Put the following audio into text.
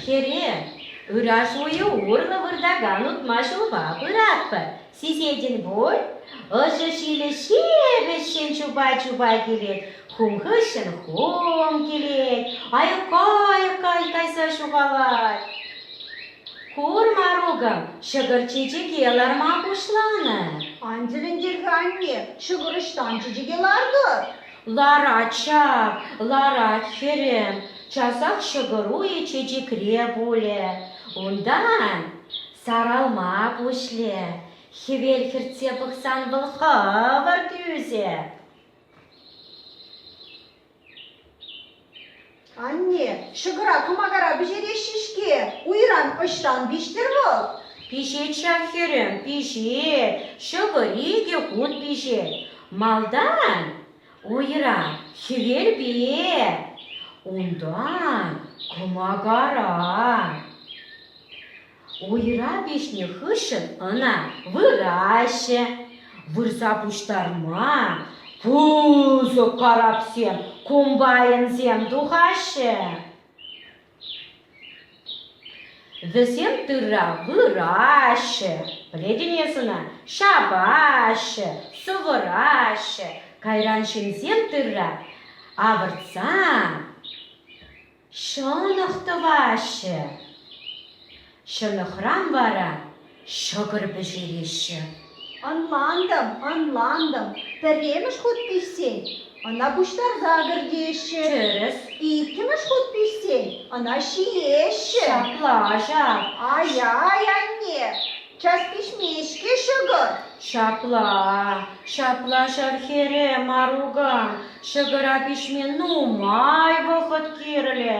Хӗре, ыраш уйӗ урлӑ выртакан утма ҫулпа пыратпӑр. Сисетӗн пуль? Ӑшӑ-ҫилӗ ҫепӗҫҫӗн чупа-чупа килет, хум хыҫҫӑн хум килет, айӑка-айӑка кайса ҫухалать. Курма рукӑм, ҫӑкӑр чечеке ларма пуҫланӑ. Ан тӗлӗнтер-ха, анне, ҫӑкӑр ӑҫтан чечеке лартӑр? Ларать ҫав, ларать, хӗрӗм. Часах ҫӑкӑр уйӗ чечекре пулӗ. Унтан Саралма пуҫле, хӗвел хӗртсе пӑхсан вӑл хӑвӑр тӳсӗ. Анне, ҫӑкӑра кӑмакара пӗҫереҫҫӗ-ҫке. Уйран ӑҫтан пиҫтӗр вӑл? Пиҫет ҫав хӗрӗм, пиҫет. Ҫӑкӑр икӗ хут пиҫет. Малтан Уйран хӗвелпе, унтан кӑмакаран. Уйра пиҫнӗ хыҫҫӑн ӑна выраҫҫӗ. Вырса пуҫтарма пысӑк карапсем, комбайнсем тухаҫҫӗ. Вӗсем тырра выраҫҫӗ, пӗлетӗн эс ӑна, ҫапаҫҫӗ, сӑвӑраҫҫӗ. Кайран ҫынсем тырра авӑртсан ҫӑнӑх тӑваҫҫӗ. Ҫӑнӑхран вара ҫӑкӑр пӗҫереҫҫӗ. Ӑнлантӑм, ӑнлантӑм, пӗрремӗш хут пиҫсен ӑна пуҫтарса кӗртеҫҫӗ. Тӗрӗс. Иккӗмӗш хут пиҫсен ӑна ҫиеҫҫӗ. Ҫапла, ҫап. Ай-ай, анне, час пиҫмест-ҫке ҫӑкӑр. Ҫапла-а, ҫапла ҫӗр хӗрӗ, Марука, ҫӑкӑра пиҫме нумай вӑхӑт кирлӗ.